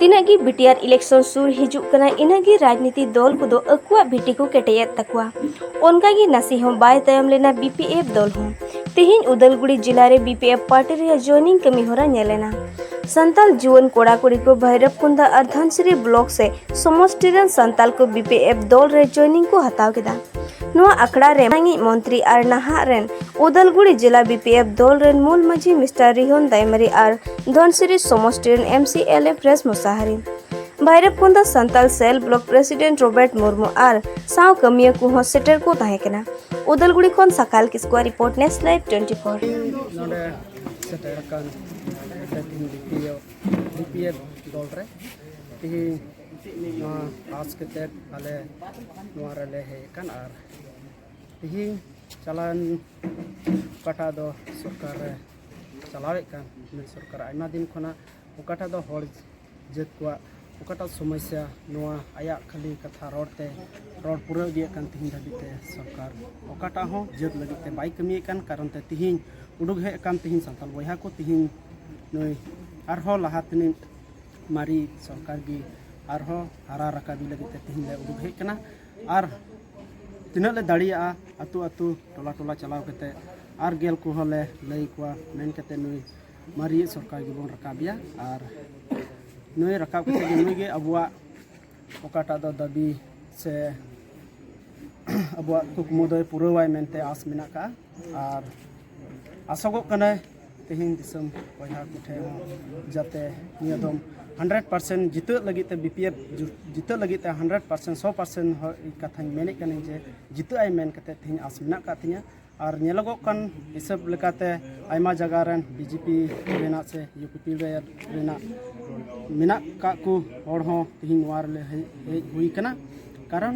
ᱛᱤᱱᱟᱹᱜ ᱜᱮ ᱵᱤᱴᱤᱟᱨ ᱤᱞᱮᱠᱥᱚᱱ ᱥᱩᱨ ᱦᱤᱡᱩᱜ ᱠᱟᱱᱟ ᱤᱱᱟᱹᱜ ᱜᱮ ᱨᱟᱡᱽᱱᱤᱛᱤ ᱫᱚᱞ ᱠᱚᱫᱚ ᱟᱠᱚᱣᱟᱜ ᱵᱷᱤᱴᱤ ᱠᱚ ᱠᱮᱴᱮᱡᱮᱫ ᱛᱟᱠᱚᱣᱟ ᱚᱱᱠᱟ ᱜᱮ ᱱᱟᱥᱮ ᱦᱚᱸ ᱵᱟᱭ ᱛᱟᱭᱚᱢ ᱞᱮᱱᱟ ᱵᱤᱯᱤᱮᱯᱷ ᱫᱚᱞ ᱦᱚᱸ ᱛᱮᱦᱮᱧ ᱩᱫᱟᱞᱜᱩᱲᱤ ᱡᱤᱞᱟ ᱨᱮ ᱵᱤᱯᱤᱮᱯᱷ ᱯᱟᱨᱴᱤ ᱨᱮᱭᱟᱜ ᱡᱚᱭᱱᱤᱝ ᱠᱟᱹᱢᱤ ᱦᱚᱨᱟ ᱧᱮᱞ ᱮᱱᱟ ᱥᱟᱱᱛᱟᱞ ᱡᱩᱣᱟᱹᱱ ᱠᱚᱲᱟ ᱠᱩᱲᱤ ᱠᱚ ᱵᱷᱟᱭᱨᱚᱵ ᱠᱩᱱᱫᱟ ᱟᱨ ᱫᱷᱟᱱᱥᱨᱤ ᱵᱞᱚᱠ ᱥᱮ ᱥᱚᱢᱚᱥᱴᱤ ᱨᱮᱱ ᱥᱟᱱᱛᱟᱞ ᱠᱚ ᱵᱤᱯᱤᱮᱯᱷ ᱫᱚᱞ ᱨᱮ ᱡᱚᱭᱱᱤᱝ ᱠᱚ ᱦᱟᱛᱟᱣ ᱠᱮᱫᱟ ᱱᱚᱣᱟ ᱟᱠᱷᱲᱟ ᱨᱮ ᱢᱟᱹᱱᱤᱡ ᱢᱚᱱᱛᱨᱤ ᱟᱨ ᱱᱟᱦᱟᱜ ᱨᱮᱱ ᱩᱫᱟᱞᱜᱩᱲᱤ ᱡᱮᱞᱟ ᱵᱤᱯᱤᱮᱯᱷ ᱫᱚᱞ ᱨᱮᱱ ᱢᱩᱞ ᱢᱟᱹᱡᱷᱤ ᱢᱤᱥᱴᱟᱨ ᱨᱤᱦᱚᱱ ᱫᱟᱭᱢᱟᱨᱤ ᱟᱨ ᱫᱷᱚᱱᱥᱤᱨᱤ ᱥᱚᱢᱚᱥᱴᱤ ᱨᱮᱱ ᱮᱢ ᱥᱤ ᱮᱞ ᱮᱯᱷ ᱨᱮᱥ ᱢᱩᱥᱟᱦᱟᱨᱤ ᱵᱷᱟᱭᱨᱚᱵᱠᱚᱸᱫᱟ Santal cell block president Robert Murmu ᱟᱨ ᱥᱟᱶ ᱠᱟᱹᱢᱤᱭᱟᱹ ᱠᱚᱦᱚᱸ ᱥᱮᱴᱮᱨ ᱠᱚ ᱛᱟᱦᱮᱸ ᱠᱟᱱᱟ ᱩᱫᱟᱞᱜᱩᱲᱤ ᱠᱷᱚᱱ ᱥᱟᱠᱟᱞ ᱠᱤᱥᱠᱩᱣᱟᱜ ᱨᱤᱯᱳᱨᱴ ᱱᱮᱥ ᱞᱟᱭᱤᱵ ᱴᱩᱭᱮᱱᱴᱤ ᱯᱷᱳᱨ ᱱᱚᱰᱮ ᱥᱮᱴᱮᱨ ᱟᱠᱟᱱ ᱵᱤᱯᱤᱮᱯᱷ ᱫᱚᱞ ᱨᱮ ᱛᱮᱦᱮᱧ ᱱᱚᱣᱟ ᱯᱟᱥ ᱠᱟᱛᱮᱫ ᱟᱞᱮ ᱱᱚᱣᱟ ᱨᱮᱞᱮ ᱦᱮᱡ ᱟᱠᱟᱱ ᱟᱨ ᱛᱮᱦᱮᱧ ᱪᱟᱞᱟᱣᱮᱱ ᱚᱠᱟᱴᱟᱜ ᱫᱚ ᱥᱚᱨᱠᱟᱨ ᱨᱮ ᱪᱟᱞᱟᱣᱮᱫ ᱠᱟᱱ ᱱᱩᱭ ᱥᱚᱨᱠᱟᱨ ᱟᱭᱢᱟ ᱫᱤᱱ ᱠᱷᱚᱱᱟᱜ ᱚᱠᱟᱴᱟᱜ ᱫᱚ ᱦᱚᱲ ᱡᱟᱹᱛ ᱠᱚᱣᱟᱜ ᱚᱠᱟᱴᱟᱜ ᱥᱚᱢᱚᱥᱥᱟ ᱱᱚᱣᱟ ᱟᱭᱟᱜ ᱠᱷᱟᱹᱞᱤ ᱠᱟᱛᱷᱟ ᱨᱚᱲ ᱛᱮ ᱨᱚᱲ ᱯᱩᱨᱟᱹᱣ ᱤᱫᱤᱭᱮᱫ ᱠᱟᱱ ᱛᱮᱦᱮᱧ ᱫᱷᱟᱹᱵᱤᱡ ᱛᱮ ᱥᱚᱨᱠᱟᱨ ᱚᱠᱟᱴᱟᱜ ᱦᱚᱸ ᱡᱟᱹᱛ ᱞᱟᱹᱜᱤᱫ ᱛᱮ ᱵᱟᱭ ᱠᱟᱹᱢᱤᱭᱮᱫ ᱠᱟᱱ ᱠᱟᱨᱚᱱ ᱛᱮ ᱛᱮᱦᱮᱧ ᱩᱰᱩᱠ ᱦᱮᱡ ᱟᱠᱟᱱ ᱛᱮᱦᱮᱧ ᱥᱟᱱᱛᱟᱲ ᱵᱚᱭᱦᱟ ᱠᱚ ᱛᱮᱦᱮᱧ ᱱᱩᱭ ᱟᱨᱦᱚᱸ ᱞᱟᱦᱟ ᱛᱮᱱᱤᱡ ᱢᱟᱨᱮ ᱥᱚᱨᱠᱟᱨ ᱜᱮ ᱟᱨᱦᱚᱸ ᱦᱟᱨᱟ ᱨᱟᱠᱟᱵᱮ ᱞᱟᱹᱜᱤᱫ ᱛᱮ ᱛᱮᱦᱮᱧ ᱞᱮ ᱩᱰᱩᱠ ᱦᱮᱡ ᱟᱠᱟᱱᱟ ᱟᱨ ᱛᱤᱱᱟᱹᱜ ᱞᱮ ᱫᱟᱲᱮᱭᱟᱜᱼᱟ ᱟᱹᱛᱩ ᱟᱹᱛᱩ ᱴᱚᱞᱟ ᱴᱚᱞᱟ ᱪᱟᱞᱟᱣ ᱠᱟᱛᱮ ᱟᱨ ᱜᱮᱞ ᱠᱚᱦᱚᱸ ᱞᱮ ᱞᱟᱹᱭ ᱠᱚᱣᱟ ᱢᱮᱱ ᱠᱟᱛᱮ ᱱᱩᱭ ᱢᱟᱨᱤᱭ ᱥᱚᱨᱠᱟᱨ ᱜᱮᱵᱚᱱ ᱨᱟᱠᱟᱵᱮᱭᱟ ᱟᱨ ᱱᱩᱭ ᱨᱟᱠᱟᱵ ᱠᱟᱛᱮ ᱱᱩᱭ ᱜᱮ ᱟᱵᱚᱣᱟᱜ ᱚᱠᱟᱴᱟᱜ ᱫᱚ ᱫᱟᱹᱵᱤ ᱥᱮ ᱟᱵᱚᱣᱟᱜ ᱠᱩᱠᱢᱩ ᱫᱚᱭ ᱯᱩᱨᱟᱹᱣᱟᱭ ᱢᱮᱱᱛᱮ ᱟᱥ ᱢᱮᱱᱟᱜ ᱠᱟᱜᱼᱟ ᱟᱨ ᱟᱥᱚᱜᱚᱜ ᱠᱟᱱᱟᱭ ᱛᱮᱦᱮᱧ ᱫᱤᱥᱚᱢ ᱵᱚᱭᱦᱟ ᱠᱚᱴᱷᱮᱱ ᱦᱚᱸ ᱡᱟᱛᱮ ᱱᱤᱭᱟᱹ ᱫᱚᱢ ᱦᱟᱱᱰᱨᱮᱰ ᱯᱟᱨᱥᱮᱱᱴ ᱡᱤᱛᱟᱹᱜ ᱞᱟᱹᱜᱤᱫ ᱛᱮ ᱵᱤᱯᱤᱮᱯᱷ ᱡᱤᱛᱟᱹᱜ ᱞᱟᱹᱜᱤᱫ ᱛᱮ ᱦᱟᱱᱰᱨᱮᱰ ᱯᱟᱨᱥᱮᱱᱴ ᱥᱚ ᱯᱟᱨᱥᱮᱱᱴ ᱠᱟᱛᱷᱟᱧ ᱢᱮᱱᱮᱫ ᱠᱟᱹᱱᱟᱹᱧ ᱡᱮ ᱡᱤᱛᱟᱹᱜ ᱟᱭ ᱢᱮᱱ ᱠᱟᱛᱮ ᱛᱮᱦᱮᱧ ᱟᱥ ᱢᱮᱱᱟᱜ ᱟᱠᱟᱫ ᱛᱤᱧᱟᱹ ᱟᱨ ᱧᱮᱞᱚᱜᱚᱜ ᱠᱟᱱ ᱦᱤᱥᱟᱹᱵ ᱞᱮᱠᱟᱛᱮ ᱟᱭᱢᱟ ᱡᱟᱭᱜᱟ ᱨᱮᱱ ᱵᱤᱡᱮᱯᱤ ᱨᱮᱱᱟᱜ ᱥᱮ ᱤᱭᱩᱯᱤᱯᱤ ᱨᱮᱱᱟᱜ ᱢᱮᱱᱟᱜ ᱟᱠᱟᱫ ᱠᱚ ᱦᱚᱲ ᱦᱚᱸ ᱛᱮᱦᱮᱧ ᱱᱚᱣᱟ ᱨᱮᱞᱮ ᱦᱮᱡ ᱦᱩᱭ ᱟᱠᱟᱱᱟ ᱠᱟᱨᱚᱱ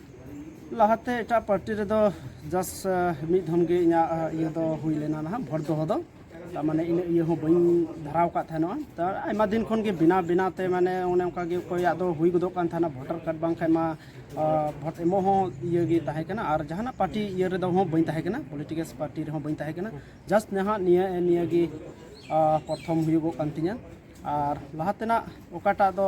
ᱞᱟᱦᱟᱛᱮ ᱮᱴᱟᱜ ᱯᱟᱨᱴᱤ ᱨᱮᱫᱚ ᱡᱟᱥ ᱢᱤᱫ ᱫᱷᱚᱢ ᱜᱮ ᱤᱧᱟᱹᱜ ᱤᱭᱟᱹ ᱫᱚ ᱦᱩᱭ ᱞᱮᱱᱟ ᱱᱟᱦᱟᱜ ᱵᱷᱳᱴ ᱫᱚᱦᱚ ᱫᱚ ᱢᱟᱱᱮ ᱤᱱᱟᱹ ᱤᱭᱟᱹ ᱦᱚᱸ ᱵᱟᱹᱧ ᱫᱷᱟᱨᱟᱣ ᱠᱟᱫ ᱛᱟᱦᱮᱱᱚᱜᱼᱟ ᱛᱟ ᱟᱭᱢᱟ ᱫᱤᱱ ᱠᱷᱚᱱ ᱜᱮ ᱵᱮᱱᱟᱣ ᱵᱮᱱᱟᱣ ᱛᱮ ᱢᱟᱱᱮ ᱚᱱᱮ ᱚᱱᱠᱟ ᱜᱮ ᱚᱠᱚᱭᱟᱜ ᱫᱚ ᱦᱩᱭ ᱜᱚᱫᱚᱜ ᱠᱟᱱ ᱛᱟᱦᱮᱱᱟ ᱵᱷᱳᱴᱟᱨ ᱠᱟᱨᱰ ᱵᱟᱝᱠᱷᱟᱱ ᱢᱟ ᱵᱷᱳᱴ ᱮᱢᱚᱜ ᱦᱚᱸ ᱤᱭᱟᱹ ᱜᱮ ᱛᱟᱦᱮᱸ ᱠᱟᱱᱟ ᱟᱨ ᱡᱟᱦᱟᱱᱟᱜ ᱯᱟᱨᱴᱤ ᱤᱭᱟᱹ ᱨᱮᱫᱚ ᱦᱚᱸ ᱵᱟᱹᱧ ᱛᱟᱦᱮᱸ ᱠᱟᱱᱟ ᱯᱚᱞᱤᱴᱤᱠᱮᱞ ᱯᱟᱨᱴᱤ ᱨᱮᱦᱚᱸ ᱵᱟᱹᱧ ᱛᱟᱦᱮᱸ ᱠᱟᱱᱟ ᱡᱟᱥᱴ ᱱᱟᱦᱟᱜ ᱱᱤᱭᱟᱹ ᱱᱤᱭᱟᱹ ᱜᱮ ᱯᱨᱚᱛᱷᱚᱢ ᱦᱩᱭᱩᱜᱚᱜ ᱠᱟᱱ ᱛᱤᱧᱟᱹ ᱟᱨ ᱞᱟᱦᱟ ᱛᱮᱱᱟᱜ ᱚᱠᱟᱴᱟᱜ ᱫᱚ